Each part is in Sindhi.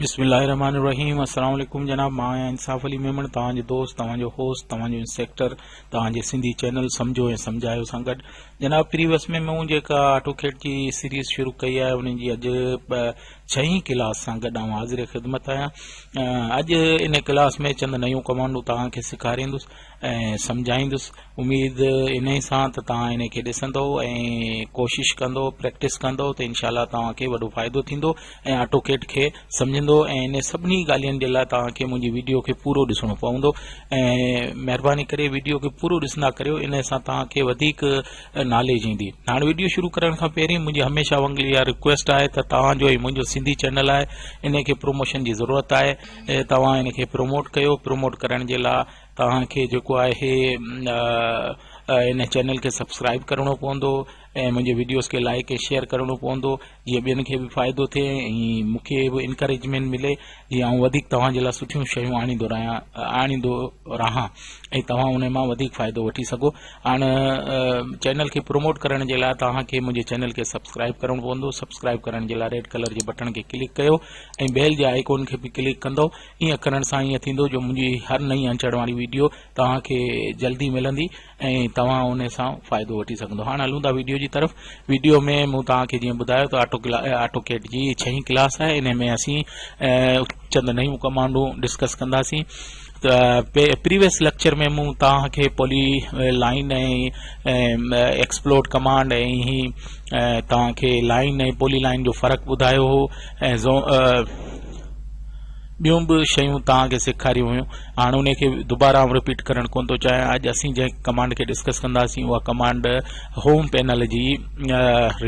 بسم الله الرحمن الرحيم السلام عليڪم جناب مان آهيان انصاف علي ميمڻ توهان جو دوست توهان جو هوسٽ توهان جو انسيڪٽر توهان جي سنڌي چينل سمجھو ۽ سمجھايو سان گڏ جناب پريوس ۾ مون جيڪا آٽو کيٽ جي سيريز شروع ڪئي آهي ان جي اڄ ڇهين ڪلاس سان گڏ آئون حاضر خدمت آهيان اڄ ان ڪلاس ۾ چند نيون ڪمانڊون توهان کي سيکاريندس ۽ سمجهائيندس اميد ان سان ته توهان ان کي ڏسندو ۽ ڪوشش ڪندو پريڪٽس ڪندو ته انشاء الله توهان کي وڏو فائدو ٿيندو ۽ آٽو ڪيٽ کي سمجهندو ۽ ان سڀني ڳالهين جي لاء توهان کي منهنجي ويڊيو کي پورو ڏسڻو پوندو ۽ مهرباني ڪري ويڊيو کي پورو ڏسندا ڪريو ان سان توهان کي وڌيڪ نالي جي ايندي هاڻ ويڊيو شروع ڪرڻ کان پهرين منهنجي هميشه وانگل اها رڪويسٽ آهي ته توهان جو هي منهنجو سنڌي چينل آهي ان کي پروموشن جي ضرورت آهي توهان ان کي پروموٽ ڪيو پروموٽ ڪرڻ جي لاء توهان کي جيڪو آهي ان چينل کي سبسڪرائب ڪرڻو پوندو ۽ منهنجي ويڊيوز کي لائڪ ۽ شيئر ڪرڻو پوندو جيئن ٻين کي به فائدو ٿئي ۽ مون کي به انڪريجمينٽ ملي جيئن آئون وڌيڪ توهان جي لاء سٺيون شيون آڻيندو رهيان آڻيندو رهان ۽ توهان ان مان وڌيڪ فائدو وٺي سگهو هاڻ چينل کي پروموٽ ڪرڻ جي لاء توهان کي منهنجي چينل کي سبسڪرائب ڪرڻو پوندو سبسڪرائب ڪرڻ جي لاء ريڊ ڪلر جي بٽڻ کي ڪلڪ ڪيو ۽ بيل جي آئيڪون کي به ڪلڪ ڪندو ائين ڪرڻ سان ائين ٿيندو جو منهنجي هر نئين اچڻ واري ويڊيو توهان کي جلدي ملندي ۽ توهان ان سان فائدو وٺي سگهندو هاڻ هلون ٿا ويڊيو جي طرف ويڊيو ۾ مون توهان کي جيئن ٻڌايو ته آٽو آٽو ڪيٽ جي ڇهين ڪلاس آهي ان ۾ اسين چند نيون ڪمانڊو ڊسڪس ڪنداسين پريويس ليڪچر ۾ مون توهان کي پولي لائن ۽ ايڪسپلوڊ ڪمانڊ ۽ هي توهان کي لائن ۽ پولي لائن جو فرق ٻڌايو هو ۽ ٻيون به شيون توهان کي سيکاريون هيون هاڻ انهي کي دوباره آئون رپيٽ ڪرڻ ڪونه ٿو چاهيان اڄ اسين جنهن ڪمانڊ کي ڊسڪس ڪنداسين اها ڪمانڊ هوم پينل جي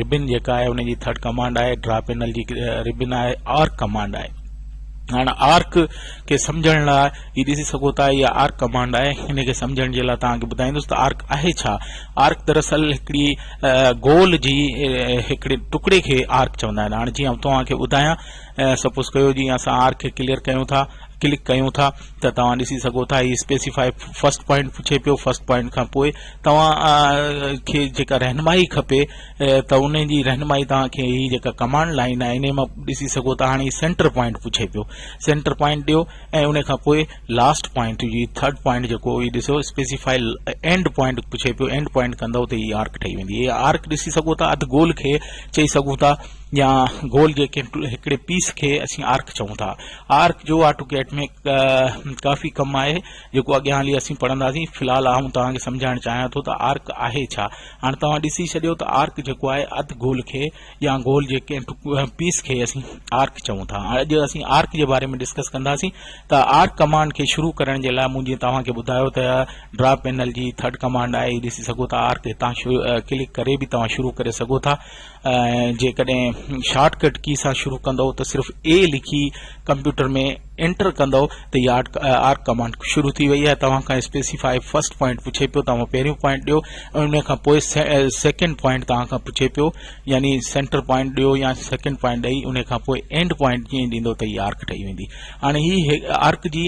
ربن جيڪا آهي ان جي ٿرڊ ڪمانڊ آهي ڊرا پينل جي ربن آهي آرڪ ڪمانڊ آهي هاڻ آرڪ کي سمجھڻ لاء هي ڏسي سگھو ٿا اها آرڪ ڪمانڊ آهي ان کي سمجھڻ جي لاء توهان کي ٻڌائيندس ته آرڪ آهي ڇا آرڪ دراصل هڪڙي گول جي هڪڙي ٽڪڙي کي آرڪ چوندا آهن هاڻ جيئن توهان کي ٻڌايان سپوز ڪيو جيئن اسان آر کي ڪليئر ڪيون ٿا ڪلڪ ڪيون ٿا ته توهان ڏسي سگهو ٿا هي اسپيسيفائي فرسٽ پوائنٽ پڇي پيو فرسٽ پوائنٽ کان پوء توهان کي جيڪا رهنمائي کپي ته ان جي رهنمائي توهان کي هي جيڪا ڪمانڊ لائن آهي ان مان ڏسي سگهو ٿا هاڻي سينٽر پوائنٽ پڇي پيو سينٽر پوائنٽ ڏيو ۽ ان کان پوء لاسٽ پوائنٽ جي ٿرڊ پوائنٽ جيڪو هي ڏسو اسپيسيفائي اينڊ پوائنٽ پڇي پيو اينڊ پوائنٽ ڪندو ته هي آرڪ ٺهي ويندي هي آرڪ ڏسي سگهو ٿا اڌ گول کي چئي سگهون ٿا يا گول جي ڪنهن هڪڙي پيس کي اسين آرڪ چئون ٿا آرڪ جو آٽوڪيٽ ۾ ڪافي ڪم آهي جيڪو اڳيان هلي اسين پڙهنداسين في الحال آئون توهان کي سمجهائڻ چاهيان ٿو ته آرڪ آهي ڇا هاڻ توهان ڏسي ڇڏيو ته آرڪ جيڪو آهي اڌ گول کي يا گول جي ڪنهن پيس کي اسين آرڪ چئون ٿا اڄ اسين آرڪ جي باري ۾ ڊسڪس ڪنداسين ته آرڪ ڪمانڊ کي شروع ڪرڻ جي لاء مون جي توهان کي ٻڌايو ته ڊرا پينل جي ٿرڊ ڪمانڊ آهي ڏسي سگهو ٿا آرڪ هتان ڪلڪ ڪري به توهان شروع ڪري سگهو ٿا جيڪڏهن شارٽ ڪٽ ڪي سان شروع ڪندو ته صرف اي لکي ڪمپيوٽر ۾ انٽر ڪندو ته يارٽ آر ڪمانڊ شروع ٿي وئي آهي توهان کان اسپيسيفاء فرسٽ پوائنٽ پڇي پيو توهان پهريون پوائنٽ ڏيو ان کان پوء سيڪنڊ پوائنٽ توهان کان پڇي پيو يعني سينٽر پوائنٽ ڏيو يا سيڪنڊ پوائنٽ ڏئي ان کان پوء اينڊ پوائنٽ جيئن ڏيندو ته يارڪ ٺهي ويندي هاڻي هي آرڪ جي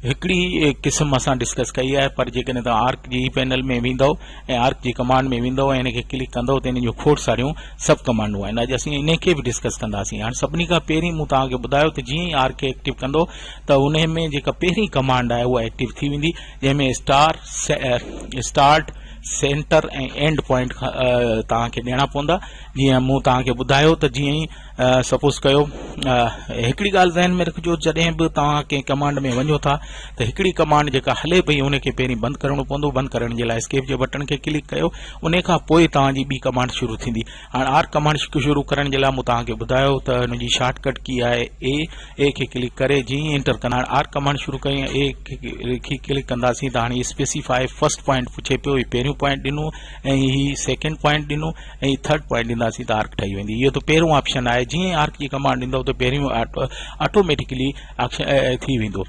هڪڙي قسم اسان ڊسڪس ڪئي آهي پر جيڪڏهن توهان آرڪ جي پينل ۾ ويندو ۽ آرڪ جي ڪمانڊ ۾ ويندو ۽ ان کي ڪلڪ ڪندو ته ان جون کوڙ ساريون سب ڪمانڊون آهن اڄ اسين ان کي به ڊسڪس ڪنداسين هاڻي سڀني کان پهرين مون توهان کي ٻڌايو ته جيئن ئي آرڪ کي ايڪٽيو ڪندو ته ان ۾ جيڪا پهرين ڪمانڊ آهي اها ايڪٽيو ٿي ويندي جنهن ۾ star start centre ۽ end point توهان کي ڏيڻا پوندا جيئن مون توهان کي ٻڌايو ته جيئن ئي سپوز ڪيو هڪڙي ڳالهه ذهن ۾ رکجو جڏهن به توهان ڪنهن ڪمانڊ ۾ وڃو ٿا ته هڪڙي ڪمانڊ جيڪا هلي پئي ان کي پهرين بند ڪرڻو پوندو بند ڪرڻ جي لاء اسڪيپ جي بٽڻ کي ڪلڪ ڪيو ان کان پوء توهان جي ٻي ڪمانڊ شروع ٿيندي هاڻ آر ڪمانڊ شروع ڪرڻ جي لاء مون توهان کي ٻڌايو ته ان جي شارٽ ڪٽ ڪي آهي اي اي کي ڪلڪ ڪري جي انٽر ڪندا هاڻ آر ڪمانڊ شروع ڪري اي کي ڪلڪ ڪنداسين ته هاڻي اسپيسيفائي فرسٽ پوائنٽ پڇي پيو هي پهريون پوائنٽ ڏنو ۽ هي سيڪنڊ پوائنٽ ڏنو ۽ هي ٿرڊ پوائنٽ ڏينداسين ته آرڪ ٺهي ويندي اهو ته پهريون آپشن آهي جيئن ئي آرڪ جي ڪمانڊ ڏيندو ته پهريون آٽوميٽڪلي ٿي ويندو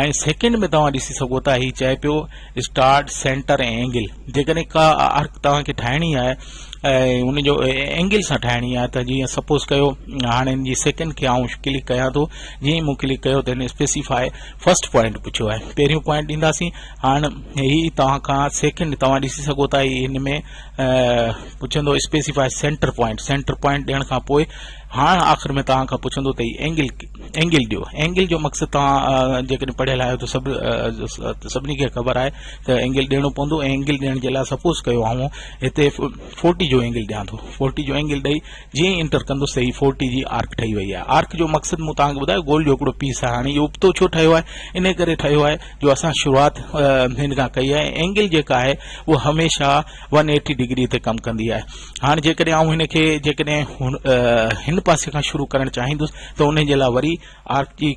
۽ سيڪنڊ ۾ توهان ڏسي سگهو ٿا هي چئي پيو اسٽارٽ سينٽر ۽ اينگل جيڪڏهن ڪا آرڪ توهانکي ٺاهڻي آهي ۽ ان جو اينگل سان ٺاهڻي آهي ته جيئن سپوز ڪيو هاڻي ان جي سيڪنڊ کي آئون ڪلڪ ڪيان ٿو جيئن مون ڪلڪ ڪيو ته هن اسپيسيفائي فرسٽ پوائنٽ پڇيو آهي پهريون پوائنٽ ڏينداسين هاڻي هي توهان کان سيڪنڊ توهان ڏسي سگهو ٿا هي ان ۾ پڇندو specify centre point centre point ڏيڻ کان پوء هاڻ آخر ۾ توهان کان پڇندو ته هي اينگل اينگل ڏيو اينگل جو مقصد توهان جيڪڏهن پڙهيل آهيو ته سڀ سڀني کي خبر آهي ته اينگل ڏيڻو پوندو ۽ اينگل ڏيڻ جي لاء سپوز ڪيو آئون هتي فورٽي جو اينگل ڏيان ٿو فورٽي جو اينگل ڏئي جيئن ئي انٽر ڪندس ته هي فورٽي جي آرڪ ٺهي وئي آهي آرڪ جو مقصد مون توهان کي ٻڌايو گول جو هڪڙو پيس آهي هاڻي اهو ابتو ڇو ٺهيو آهي ان ڪري ٺهيو آهي جو اسان شروعات هن کان ڪئي آهي اينگل جيڪا آهي اها هميشه ون ايٽي ڊگري تي ڪم ڪندي آهي هاڻ جيڪڏهن آئون هن کي جيڪڏهن هن پاسي کان شروع ڪرڻ چاهيندس ته ان جي لاء وري آر جي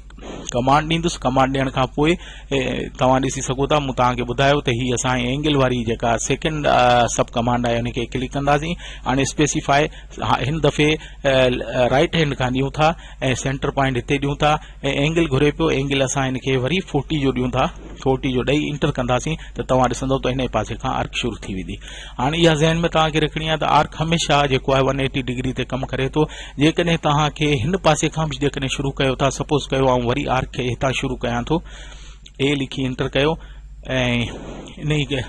ڪمانڊ ڏيندس ڪمانڊ ڏيڻ کان پوء توهان ڏسي سگهو ٿا مون توهان کي ٻڌايو ته هي اسان اينگل واري جيڪا سيڪنڊ سب ڪمانڊ آهي ان کي ڪلڪ ڪنداسين هاڻي اسپيسيفائي هن دفعي رائٽ هينڊ کان ڏيون ٿا ۽ سينٽر پوائنٽ هتي ڏيون ٿا ۽ اينگل گهري پيو اينگل اسان هن کي وري فورٽي جو ڏيون ٿا فورٽي جو ڏئي انٽر ڪنداسين ته توهان ڏسندو ته هن پاسي کان آرڪ شروع ٿي ويندي هاڻي اها ذهن ۾ توهان کي رکڻي آهي ته آرڪ هميشه جيڪو آهي ون ايٽي ڊگري تي ڪم ڪري ٿو جيڪڏهن توهان کي هن پاسي کان به جيڪڏهن شروع ڪيو ٿا سپوز ڪيو آئون وري آرڪ کي هتان شروع ڪيان ٿو اي لکي انٽر ڪيو ۽ انهي کي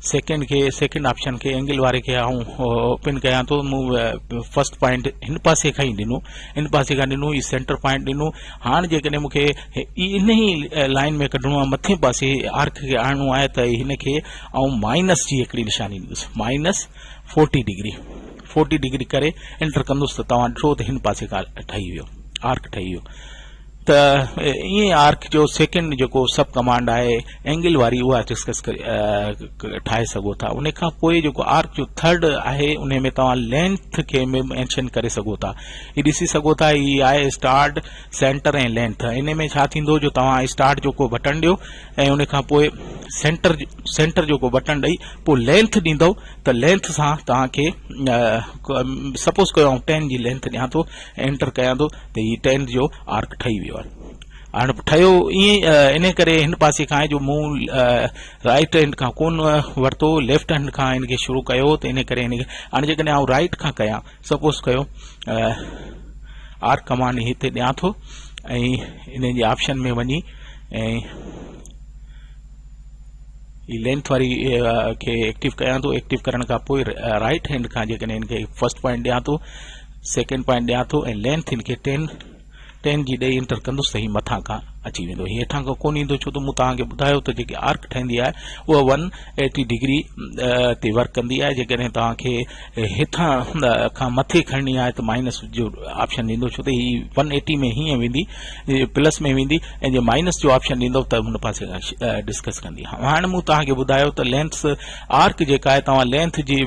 سيڪنڊ کي سيڪنڊ آپشن کي اينگل واري کي آئون اوپن ڪيان ٿو مون فرسٽ پوائنٽ هن پاسي کان ئي ڏنو ان پاسي کان ڏنو هي سينٽر پوائنٽ ڏنو هاڻ جيڪڏهن مون کي ان ئي لائن ۾ ڪڍڻو آهي مٿين پاسي آرڪ کي آڻڻو آهي ته هن کي آئون مائنس جي هڪڙي نشاني ڏيندس minus forty degree forty degree ڪري انٽر ڪندس ته توهان ڏٺو ته هن پاسي کان ٺهي ويو آرڪ ٺهي ويو ته ائين آرڪ جو سيڪنڊ جيڪو سب ڪمانڊ آهي اينگل واري اها ڊسڪس ٺاهي سگهو ٿا ان کان پوء جيڪو آرڪ جو ٿرڊ آهي ان ۾ توهان لينٿ کي مينشن ڪري سگهو ٿا هي ڏسي سگهو ٿا هي آهي اسٽارٽ سينٽر ۽ لينٿ ان ۾ ڇا ٿيندو جو توهان اسٽارٽ جو ڪو بٽن ڏيو ۽ ان کان پوء سينٽر سينٽر جو ڪو بٽن ڏئي پوء لينٿ ڏيندو ته لينٿ سان توهان کي سپوز ڪيو آئون ٽين جي لينٿ ڏيان ٿو انٽر ڪيان ٿو ته هي ٽيل جو آرڪ ٺهي ويو آهي هاڻي ٺهيو ائين ان ڪري هن پاسي کان آهي جو مون رائٽ هينڊ کان ڪون ورتو ليفٽ هينڊ کان هن کي شروع ڪيو ته ان ڪري هن کي هاڻي جيڪڏهن آئون رائٽ کان ڪيان سپوز ڪيو آر ڪمانڊ هتي ڏيان ٿو ۽ ان جي آپشن ۾ وڃي ۽ هي لينٿ واري کي ايڪٽيو ڪيان ٿو ايڪٽيو ڪرڻ کان پوء رائٽ هينڊ کان جيڪڏهن هن کي فرسٽ پوائنٽ ڏيان ٿو سيڪنڊ پوائنٽ ڏيان ٿو ۽ لينٿ ان کي ٽين ٽين جي ڏئي انٽر ڪندس ته هي مٿان کان اچي ويندو هي هيٺان کان ڪون ايندو ڇو ته مون توهان کي ٻڌايو ته جيڪي آرڪ ٺهندي آهي اها ون ايٽي ڊگري تي ورڪ ڪندي آهي جيڪڏهن توهان کي هيٺان کان مٿي کڻڻي آهي ته مائنس جو آپشن ڏيندو ڇو ته هي ون ايٽي ۾ هيئن ويندي پلس ۾ ويندي ۽ جي مائنس جو آپشن ڏيندو ته هن پاسي ڊسڪس ڪندي هاڻي مون توهان کي ٻڌايو ته لينس آرڪ جيڪا آهي توهان لينٿ جي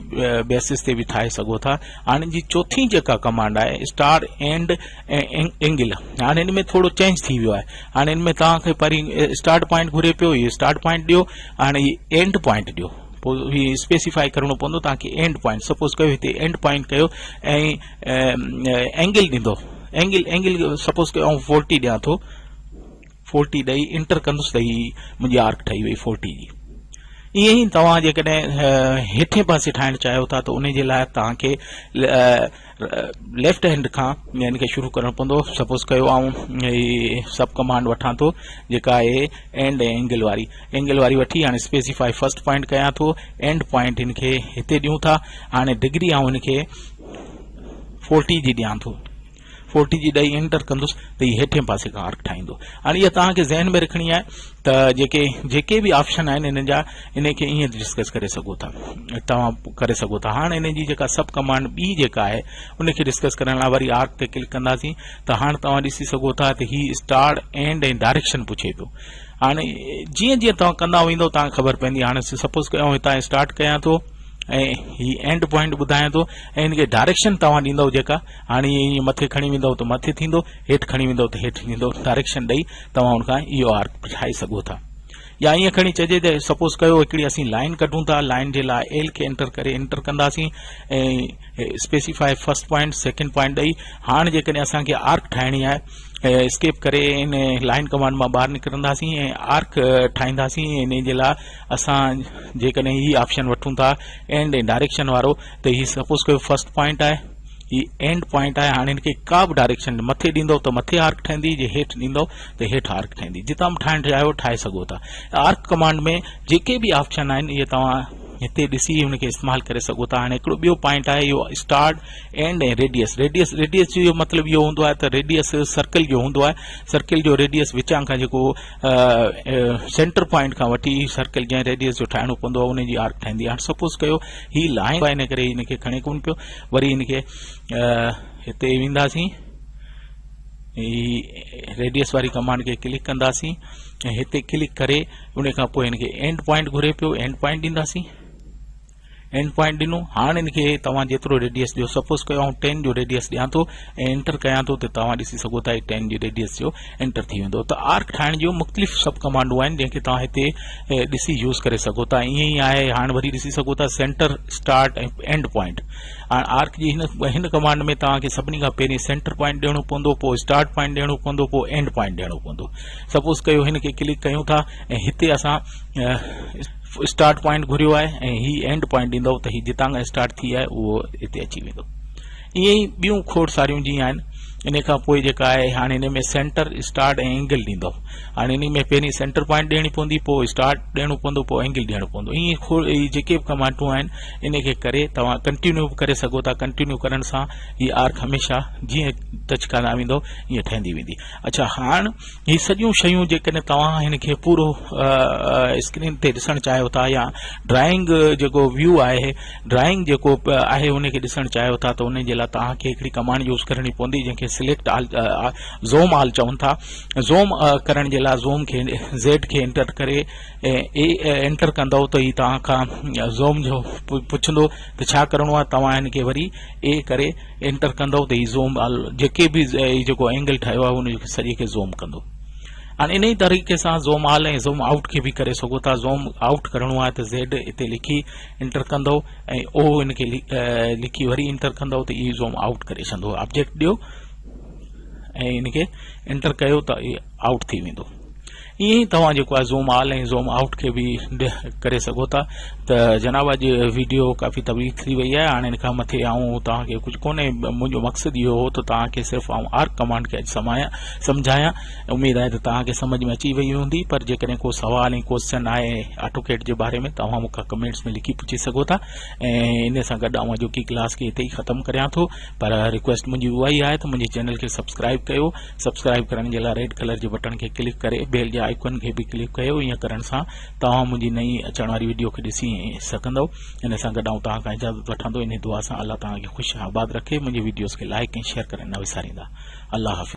بيسس تي به ٺاهي سگهو ٿا هاڻي جي چوٿين جيڪا ڪمانڊ آهي اسٽار اينڊ اينگل هاڻي ان ۾ ٿورو چينج ٿي ويو آهي هاڻي ان ۾ توهان کي پرين اسٽارٽ پوائنٽ گهري پيو هي اسٽارٽ پوائنٽ ڏيو هاڻي هي اينڊ پوائنٽ ڏيو پوء هي اسپيسيفائي ڪرڻو پوندو توهان کي اينڊ پوائنٽ سپوز ڪيو هتي اينڊ پوائنٽ ڪيو ۽ اينگل ڏيندو اينگل اينگل سپوز ڪيو آئون فورٽي ڏيان ٿو فورٽي ڏئي انٽر ڪندس ته هي منهنجي آرڪ ٺهي وئي فورٽي جي ائين ئي توهان جيڪڏهن هيٺين پاسي ٺاهڻ چاهيو ٿا ته ان جي لاء توهان کي ليفٽ هينڊ کان ان کي شروع ڪرڻو پوندو سپوز ڪيو آئون سب ڪمانڊ وٺان ٿو جيڪا آهي اينڊ ۽ اينگل واري اينگل واري وٺي هاڻي اسپيسيفائي فرسٽ پوائنٽ ڪيان ٿو اينڊ پوائنٽ ان کي هتي ڏيون ٿا هاڻي ڊگري آئون ان کي فورٽي جي ڏيان ٿو فورٽي جي ڏهي انٽر ڪندس ته هي هيٺين پاسي کان آرڪ ٺاهيندو هاڻي اها توهان کي ذهن ۾ رکڻي آهي ته جيڪي جيڪي به آپشن آهن انهن جا انهي کي ائين ڊسڪس ڪري سگهو ٿا توهان ڪري سگهو ٿا هاڻ انهي جي جيڪا سب ڪمانڊ ٻي جيڪا آهي ان کي ڊسڪس ڪرڻ لاء وري آرڪ تي ڪلڪ ڪنداسين ته هاڻ توهان ڏسي سگهو ٿا ته هي اسٽارٽ اينڊ ۽ ڊائريڪشن پڇي پيو هاڻي جيئن جيئن توهان ڪندا ويندو توهان کي خبر پوندي هاڻي سپوز ڪيو آئون هتان اسٽارٽ ڪيان ٿو ۽ هي اينڊ پوائنٽ ٻڌايان ٿو ۽ هن کي ڊائريڪشن توهان ڏيندو جيڪا هاڻي هي ائين مٿي کڻي ويندؤ ته مٿي ٿيندو، هيٺ کڻي ويندؤ ته هيٺ ٿيندو، ڊائريڪشن ڏئي توهان ان کان اهو آرڪ ٺاهي سگهو ٿا. يا ائين کڻي چئجي ته سپوز ڪيو هڪڙي اسين لائين ڪڍون ٿا، لائين جي لاء L کي انٽر ڪري انٽر ڪنداسين ۽ specify first point, second point ڏئي هاڻ جيڪڏهن اسان کي آرڪ ٺاهڻي آهي اسڪيپ ڪري ان لائين ڪمانڊ مان ٻاهر نڪرنداسين ۽ آرڪ ٺاهينداسين ۽ ان جي لاء اسان جيڪڏهن هي آپشن وٺون ٿا اينڊ ۽ ڊائريڪشن وارو ته هي سپوز ڪيو فرسٽ پوائنٽ آهي هي اينڊ پوائنٽ آهي هاڻي هن کي ڪا به ڊائريڪشن مٿي ڏيندو ته مٿي آرڪ ٺهندي جي هيٺ ڏيندو ته هيٺ آرڪ ٺهندي جتان به ٺاهڻ چاهيو ٺاهي سگهو ٿا آرڪ ڪمانڊ ۾ جيڪي به آپشن آهن اهي توهان هتي ڏسي هن کي استعمال ڪري سگهو ٿا هاڻي هڪڙو ٻيو پوائنٽ آهي اهو start end ۽ radius radius radius جو اهو مطلب اهو هوندو آهي ته ريڊيس سرڪل جو هوندو آهي سرڪل جو ريڊيس وچان کان جيڪو سينٽر پوائنٽ کان وٺي سرڪل جنهن ريڊيس جو ٺاهڻو پوندو آهي ان جي آرڪ ٺهندي آهي هاڻي سپوز ڪيو هي لاهين پيا ان ڪري ان کي کڻي ڪون پيو وري ان کي هتي وينداسين ريڊيس واري ڪمانڊ کي ڪلڪ ڪنداسين ۽ هتي ڪلڪ ڪري ان کان پوء ان کي اينڊ پوائنٽ گهري پيو اينڊ پوائنٽ ڏينداسين اينڊ پوائنٽ ڏنو هاڻ ان کي توهان جيترو ريڊيس ڏيو سپوز ڪيو آئون ٽين جو ريڊيس ڏيان ٿو ۽ انٽر ڪيان ٿو ته توهان ڏسي سگهو ٿا هي ٽين جي ريڊيس جو انٽر ٿي ويندو ته آرڪ ٺاهڻ جون مختلف سب ڪمانڊون آهن جنهن کي توهان هتي ڏسي يوز ڪري سگهو ٿا ائين ئي آهي هاڻ وري ڏسي سگهو ٿا سينٽر اسٽارٽ ۽ اينڊ پوائنٽ هاڻ آرڪ جي هن هن ڪمانڊ ۾ توهان کي سڀني کان پهرين سينٽر پوائنٽ ڏيڻو پوندو پوء اسٽارٽ پوائنٽ ڏيڻو پوندو پوء اينڊ پوائنٽ ڏيڻو پوندو سپوز ڪيو هن کي ڪلڪ ڪيون ٿا ۽ هتي اسان اسٽارٽ پوائنٽ گهريو آهي ۽ هي اينڊ پوائنٽ ڏيندو ته هي جتان کان اسٽارٽ ٿي آهي اهو هتي اچي ويندو ائين ئي ٻيون کوڙ ساريون جيئن آهن انهي کان پوء جيڪا آهي هاڻي انهي ۾ سينٽر اسٽارٽ ۽ اينگل ڏيندو هاڻي انهي ۾ پهرين سينٽر پوائنٽ ڏيڻي پوندي پوء اسٽارٽ ڏيڻو پوندو پوء اينگل ڏيڻو پوندو ائين کوڙ هي جيڪي به ڪمانڊون آهن انهي کي ڪري توهان ڪنٽينيو به ڪري سگهو ٿا ڪنٽينيو ڪرڻ سان هي آرڪ هميشه جيئن ٽچ ڪندا ويندو ائين ٺهندي ويندي اڇا هاڻ هي سڄيون شيون جيڪڏهن توهان هن کي پورو اسڪرين تي ڏسڻ چاهيو ٿا يا ڊرائنگ جيڪو ويو آهي ڊرائنگ جيڪو آهي ان کي ڏسڻ چاهيو ٿا ته ان جي لاء توهان کي هڪڙي ڪمانڊ يوز ڪرڻي پوندي جنهن کي سليڪٽ آل زوم آل چون ٿا زوم ڪرڻ جي لاء زوم کي زيڊ کي انٽر ڪري اي انٽر ڪندو ته هي توهان کان زوم جو پڇندو ته ڇا ڪرڻو آهي توهان ان کي وري اي ڪري انٽر ڪندو ته هي زوم آل جيڪي به جيڪو اينگل ٺاهيو آهي ان کي سڄي کي زوم ڪندو هاڻي ان ئي طريقي سان زوم آل ۽ زوم آؤٽ کي به ڪري سگهو ٿا زوم آؤٽ ڪرڻو آهي ته زيڊ اتي لکي انٽر ڪندؤ ۽ او ان کي لکي وري انٽر ڪندؤ ته اي زوم آئوٽ ڪري سندو آبجيڪٽ ڏيو ۽ ان کي انٽر ڪيو ته اي آئوٽ ٿي ويندو ائين ئي توهان جيڪو آهي زوم آل ۽ زوم آئوٽ کي به ڪري سگهو ٿا ته جناب اڄ ويڊيو ڪافي طويل ٿي وئي آهي هاڻي ان کان مٿي آئون توهان کي ڪجهه ڪونهي منهنجو مقصد اهو هو ته توهان کي صرف آئون آرڪ ڪمانڊ کي اڄ سمايان سمجهايان اميد آهي ته توهان کي سمجهه ۾ اچي وئي هوندي پر جيڪڏهن ڪو سوال ۽ ڪوسچن آهي آٽوڪيڊ جي باري ۾ توهان مون کان ڪمينٽس ۾ لکي پڇي سگهو ٿا ۽ ان سان گڏ آئون اڄوڪي ڪلاس کي هتي ئي ختم ڪريان ٿو پر رڪويسٽ منهنجي اها ئي آهي ته منهنجي چينل کي سبسڪرائب ڪيو سبسڪرائب ڪرڻ جي لاء ريڊ ڪلر جي بٽڻ کي ڪلڪ ڪري بيل جي آئيڪن کي به ڪلڪ ڪيو ائين ڪرڻ سان توهان منهنجي نئين اچڻ واري ويڊيو کي ڏسي سگهندو ان سان گڏ آئون توهان کان اجازت وٺان ٿو ان دعا سان الله توهان کي خوش آباد رکي منهنجي ويڊيوز کي لائڪ ۽ شيئر ڪرڻ نه وساريندا الله حافظ.